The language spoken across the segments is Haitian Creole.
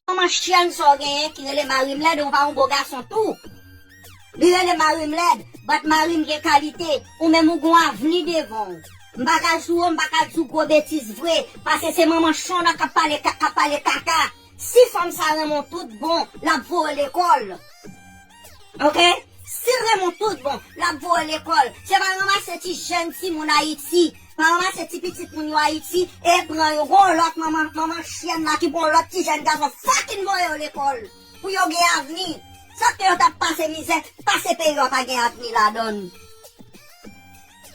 Kòman chyèn sa w genyen ki rele mari m lèd ou pa yon bo gason tou li rele mari m lèd bat mari m gen kalite ou menm ou gon avni devan w m pa ka sou w m pa ka di w gwo betiz vre pase se manman chen w la k ap pale k ap pale kaka si fanm sa renmen w tout bon l ap voye w lekòl. Ok Sil renmen w tout bon lap voye w lekòl Se pa ranmase ti jèn ti moun ayiti Pa ranmase ti pitit moun yo ayiti e pran yo Gon w lòt manman manman chyèn la ki pran w lòt ti jèn gason fucking voye yo lekòl Pou yo gen avni Sòt ke yo tap pase mizè pase peyi yo a pa gen avni ladann.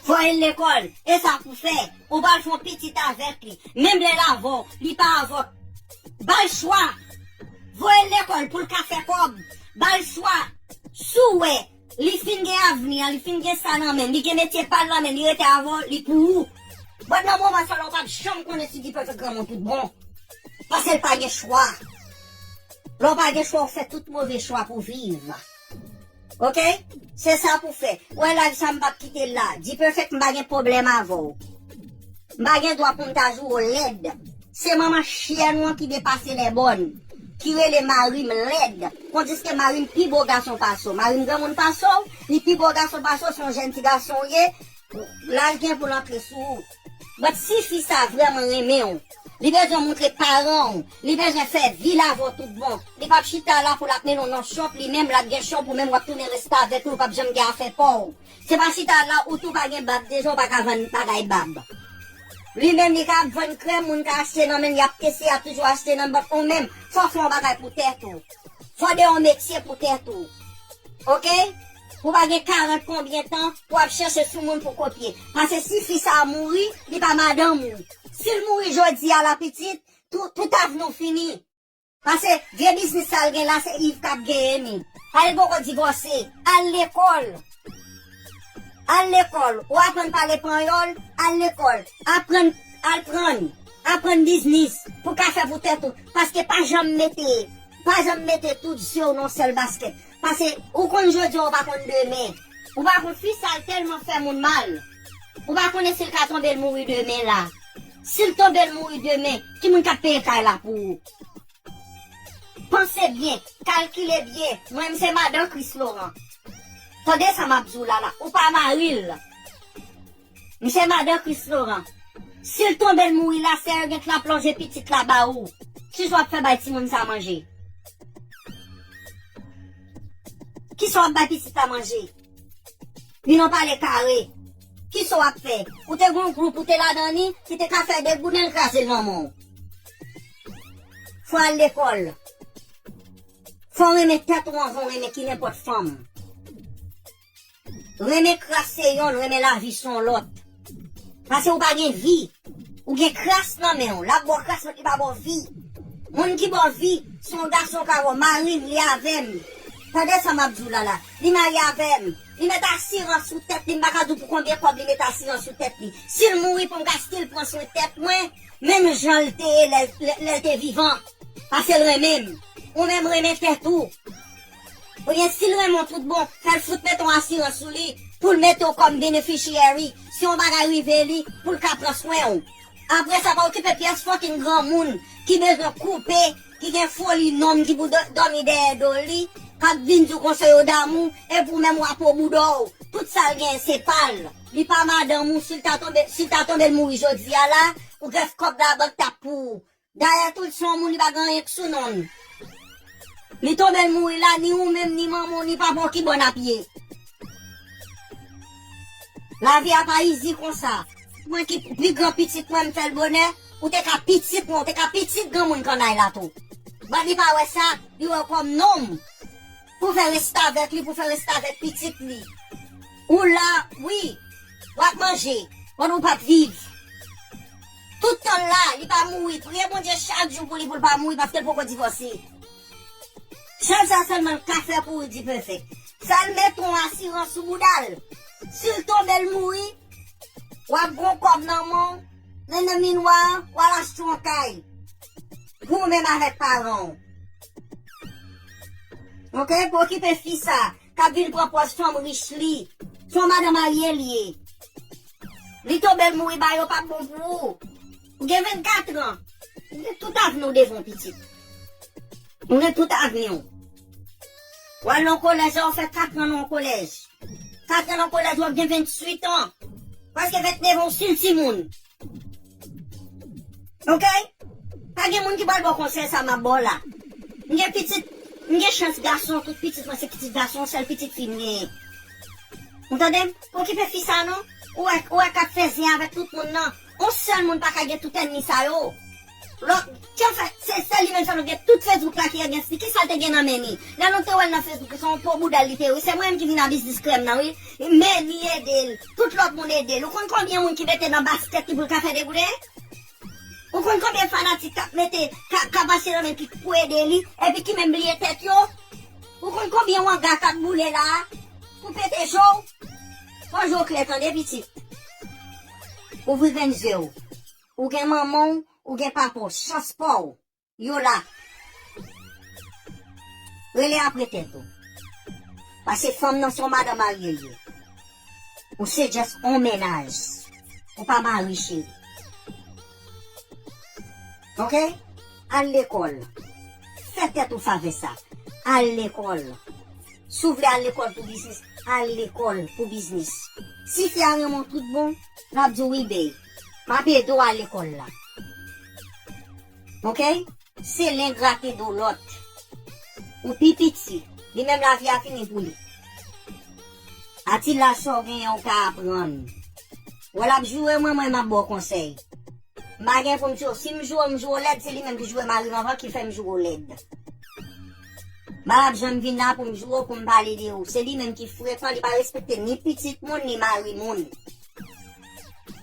Voyel lekol esa pou fè. Ou pral fon pitit avek li. Menm lel avw li pa avw. Bal chwa. Voyel lekol poul ka fè kob. Bal chwa. Sou wè Li fin gen avni an li fin gen sa nan menl li gen metye pal nan menl li rete avw li pou ou. Bon nan moman sa la ou pap janm konnen si li pral fè granmoun tout bon. Pasel pa gen chwa. Lè ou pa gen chwa ou fè tout move chwa pou viv. Ok se sa pou fè. Ou wè live sa m pap kite l la. Dperfect m pa gen pwoblèm avè w. M pa gen dwa pou m ta joure w lèd. Se manman chyèn ou an ki depase lèbòn. Ki rele mari m lèd. Kondiske mari m pi bo gason pase w. Mari m granmoun pase w. Li pi bo gason pase w. Se yon jèn ti gason ou ye. Laj gen pou l antre sou ou. Mwen t si fi sa vrèman renmen w li bezwen moutre paran w li bezwen fè vil avè w tout bon li pap chita la pou lap mennen w nan shop li menm lap gen shop ou menm wap tounen restavèk ou pap janm gen afè pa w se pa chita la ou tou pa gen bab deja w paka vann bagay bab li menm li ka ap vann krèm moun ka achte nan menn yap teste yap toujou achte nan bank ou menm fò w fè yon bagay pou tèt ou fò w gen yon metye pou tèt ou ok. Ou pa gen 40 konbyen tan pou ap chèche sou moun pou kopye. Pase si fi sa mouri, li pa madanm ou. Si l mouri jodi a la pitit, tou, tout avni w fini. Pase, vye biznis sa l gen la se Yv k ap genyen ni. Pare l poko divòse. Al lekòl. Al lekòl. Ou aprann pale panyòl, al lekòl. Aprann, al prann. Aprann biznis. Pou w ka fè pou tèt ou. Paske pa janm mete, pa janm mete tout je w nan yon sèl baskèt. Pase ou konn jodi a ou pa konn demen. Ou pa konn fi sa l tèlman fè moun mal. Ou pa konnen si l ka tonbe l mouri demen la. Si l tonbe l mouri demen, ki moun k ap peye kay la pou ou? Panse byen, kalkile byen, mwen m se madan Kris Loran. Tande sa m ap di w la la, ou pa mari l. Misye madan Christ Laurent. Sil tonbe l mouri la sè yo gen tan plonje pitit la ba ou. Kisa wap fè bay timoun sa manje. Kisa wap bay pitit la manje. Min on pale kare. Kisa wap fè. Ou te gen yon group ou te ladan li ki te ka fè 2 gouden l kraze l nan men w. Fò al lekòl. Fò renmen tèt ou anvan w renmen ki nenpòt fanm. Renmen kras se yonn renmen lavi son lòt. Pase ou pa gen vi. Ou gen kras nan men ou. Lap baw kras men li pa baw vi. Moun ki baw vi son gason ka wè marim li avèm. Tande sa map diw la la. Li marye avèm. Li met asirans sou tèt li m paka diw pou konbyen kòb li met asirans sou tèt li. Sil mouri poum ka stil pran swen tèt mwen menm janl te ye lèl te vivan. Pasel renmenm. Ou menm renmen tèt ou. Oubyen sil renmenw tout bon, fèl fout mete yon asirans sou li poul metew kòm beneficiary si yon bagay rive li poul ka pran swenw. Apresa pa okipe pyès fucking granmoun ki bezwen koupe ki gen foli nonm ki pou dòmi dèyè do li kap vin diw konsèy yo damou epi ou menm wap o boudòw tout sal genyen se pal li pa madanm ou sil ta tonbe sil ta tonbe l mouri jodia la ou gen kòb labank tap pou ou Dayè tout son w moun li pa gen anyen k sou non l. Li tonbe l mouri la ni ou menm ni manman w ni papa w ki bò n ap ye. Lavi a pa izi konsa. Mwen ki pi gran pitit mwen m fè l bonè, ou te ka pitit mwen, ou te ka pitit granmoun kannay la tou. Bat li pa wè sa, li wè w kòm nonm pou w fè restavèk li, pou w fè restavèk pitit li. Ou la wi, w ap manje, konn ou p ap viv. Tout tanl la li pa mouri priye bondye chak jou pou li poul pa mouri paskel poko divòse sèl sa sèlman l ka fè pou Rudy perfect fèl met on asirans sou boudal sil tonbe l mouri wap gen on kòb nan menw men nan minwa an wal achte on kay pou ou menm avèk paranw ok pou okipe fi sa kap vin pran pòz fanm rich li son madan marye li ye li to bèl mouri ba yo pap bon pou ou ou gen 24 ans ou gen tout avni w devan w pitit ou gen tout avni w wal nan kolèj la wap fè 4 ans nan kolèj 4 ans nan kolèj wap gen 28 ans preske 29 ans w stil timoun. Ok pa gen moun ki pral baw konsèy sa map baw la m gen pitit m gen chans gason tout pitit mwen se pitit gason sèl pitit fi m genyen ou tande m okipe fi sa non ou wè ou wè kap fè zen avèk tout moun nan on sèl moun paka gen tout ènmi sa yo. Lò kè fè se sèl li menm sa nou gen tout Facebook la ki against li kisal te gen nan men li lè nou te wèl nan Facebook se yon po boudal li te ye wi se mwen menm ki vin a biznis krèm nan wi men li edel tout lòt moun edel ou konn konbyen moun ki mete nan basket li poul ka fè degouden ou konn konbyen fanatik kap mete ka pase nan men li pou ede li epi ki menm bliye tèt yo ou konn konbyen wanga kap boule la pou pete je w fò je w klè tande pitit ouvri grenn je w. Ou gen manman w ou gen papa w chans pa w yo la rele apre tèt ou pase fanm nan se yon madan marye l ye ou se just yon mennaj ou pa mari cheri ok al lekòl fè tèt ou favè sa al lekòl si w vle al lekòl pou biznis al lekòl pou biznis si fi a renmen w tout bon lap di w wi bby. Map edew al lekol la ok. Se len grate do lot. Ou pi piti. Li menm lavi a fini pou li. A ti laj sa w genyen ou ka aprann. Wè lap joure mwen mwen map baw konsèy. M pa gen poum tiw. Sim joure m joure w lèd se li menm ki joure marim anvan ki fèm joure w lèd. M pa tap janm vin la poum joure w poum pale de ou. Se li menm ki frekan li pa respekte ni pitit moun ni mari moun.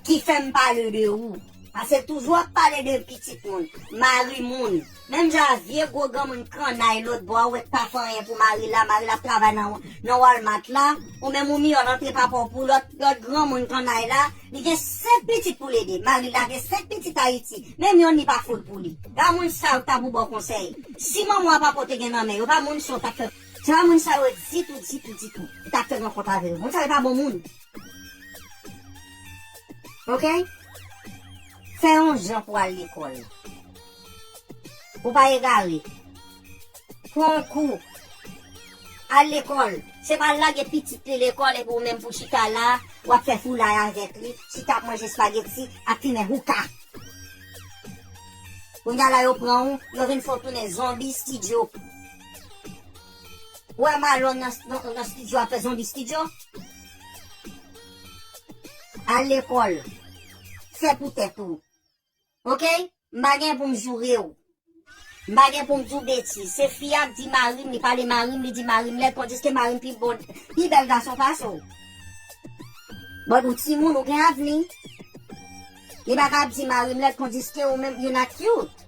ki fè m pale de ou. Pase toujou ap pale de pitit moun, mari moun. Menm jan a vye gwo granmoun kannay lòt bò a wè k pa fè anyen pou mari l la, mari l ap travay nan Walmart la, ou menm ou miyò l antre pa pa w pou lòt granmoun kannay la, li gen 5 pitit pou l ede. Mari l la gen 5 pitit Ayiti, menm yonn li pa fout pou li. Ga moun sa yo k ta pou ba w konsèy. Si manman a papa w te gen nan men yo, pa moun sa w t ap fè. Se pa moun sa yo ditou, ditou, ditou. Ou t ap fè rankont avè yo. Moun sa yo pa bon moun. Ok? Fè yon jan pou al lekòl. Pou pa egare. Pran yon kou. Al lekòl. Se pa lage pitit li lekòl epi ou menm pou chita la, w ap fè foulay avèk li, chita ap manje spageti, ap fimen houka. Kounya la yo pran ou, yo vin fè w tounen zonbi stidyo. Wè Marlon nan studio ap fè zonbi studio. Al lekòl. Fè pou tèt ou. Ok. M pa gen pou m joure w. M pa gen pou m di w betiz. Se fi a k di mari m li pale mari m li di mari m lèd tandiske mari m pi bon pi bèl gason pase w. But ou timoun ou gen avni. Li pa ka ap di mari m lèd tandiske ou menm you not cute.